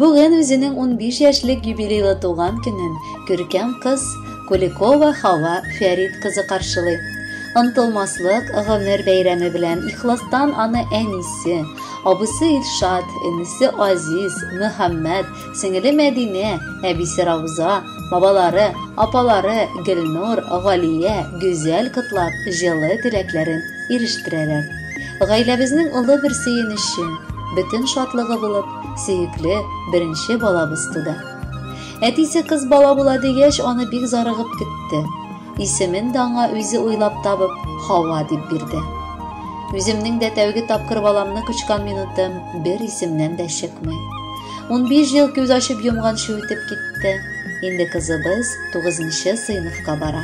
Бүген үзенең 15 яшьлек юбилейлы туган көнен күркәм кыз Куликова Хава Фәрит кызы каршылый. Ынтылмаслык гомер бәйрәме белән ихластан аны әнисе, абысы Илшат, энесе Азиз, Мөхәммәд, сеңеле Мәдинә, әбисе Рауза, бабалары, апалары Гөлнур, Галия, Гүзәл котлап, җылы теләкләрен ирештерәләр. Гаиләбезнең олы бер сөенече, бөтен шатлыгы булып, сөекле беренче балабыз туды. Әтисе кыз бала була дигәч, аны бик зарыгып көтте. Исемен дә аңа үзе уйлап табып, Хава дип бирде. Үземнең дә тәүге тапкыр баламны кочкан минутым бер исемнән дә чыкмый. 15 ел күз ачып йомганчы үтеп китте. Инде кызыбыз 9 сыйныфка бара.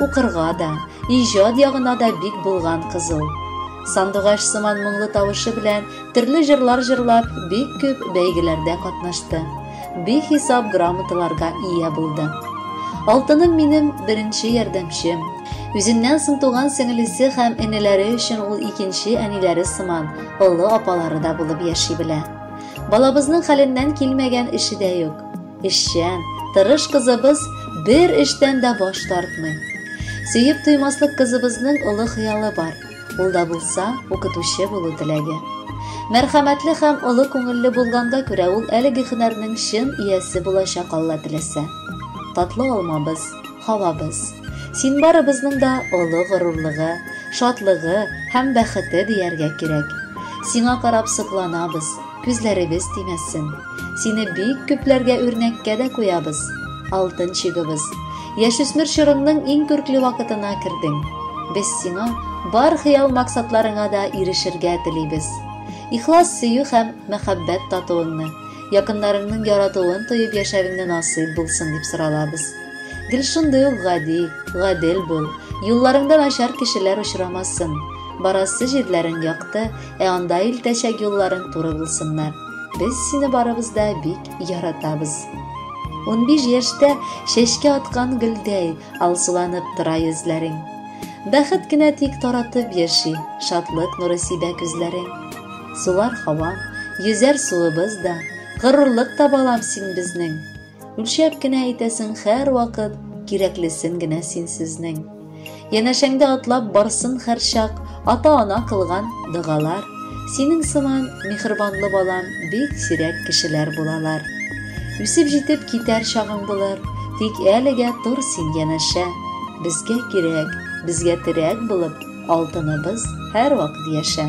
Укырга да, иҗат ягына да бик булган кыз ул. Сандугач сыман моңлы тавышы белән төрле җырлар җырлап, бик күп бәйгеләрдә катнашты. Бихисап грамоталарга ия булды. Алтыным минем беренче ярдәмчем. Үзеннән соң туган сеңелесе һәм энеләре өчен ул икенче әниләре сыман, олы апалары да булып яши белә. Балабызның хәленнән килмәгән эше дә юк. Эшчән, тырыш кызыбыз бер эштән дә баш тартмый. Сөеп туймаслык кызыбызның олы хыялы бар. Ул да булса, укытучы булу теләге. Мәрхәмәтле һәм олы күңелле булганга күрә ул әлеге һөнәрнең чын иясе булачак Алла теләсә. Татлы алмабыз. Калабыз. Син барыбызның да олы горурлыгы, шатлыгы һәм бәхете дияргә кирәк. Сиңа карап сокланабыз, күзләребез тимәсен. Сине бик күпләргә үрнәккә дә куябыз. Алтын чигыбыз. Яшүсмер чорыңның иң күркле вакытына кердең. Без сиңа бар хыял-максатларыңа да ирешергә телибез. Ихлас сөю һәм мәхәббәт татуыңны, Якыннарыңның яратуын тоеп яшәвеңне насыйп булсын дип соралабыз. Гел шундый ук гади, гадел бул. Юлларыңда начар кешеләр очрамасын. Барасы җирләрең якты, ә анда илтәчәк юлларың туры булсыннар. Без сине барыбыз да бик яратабыз. Унбиш яшьтә чәчкә аткан гөлдәй алсуланып тора йөзләрең. Бәхет кенә тик таратып яши, шатлык нуры сибә күзләрең. Сулар һава, йөзәр суыбыз да, Горурлык та балам син безнең. Үлчәп кенә әйтәсең хәр вакыт, Кирәклесен генә син сезнең. Янәшәңдә атлап барсын хәрчак, Ата-ана кылган догалар. Синең сыман михрбанлы балам Бик сирәк кешеләр булалар. Үсеп җитеп китәр чагың булыр, Тик әлегә тор син янәшә. Безгә кирәк, безгә терәк булып, Алтыныбыз һәрвакыт яшә.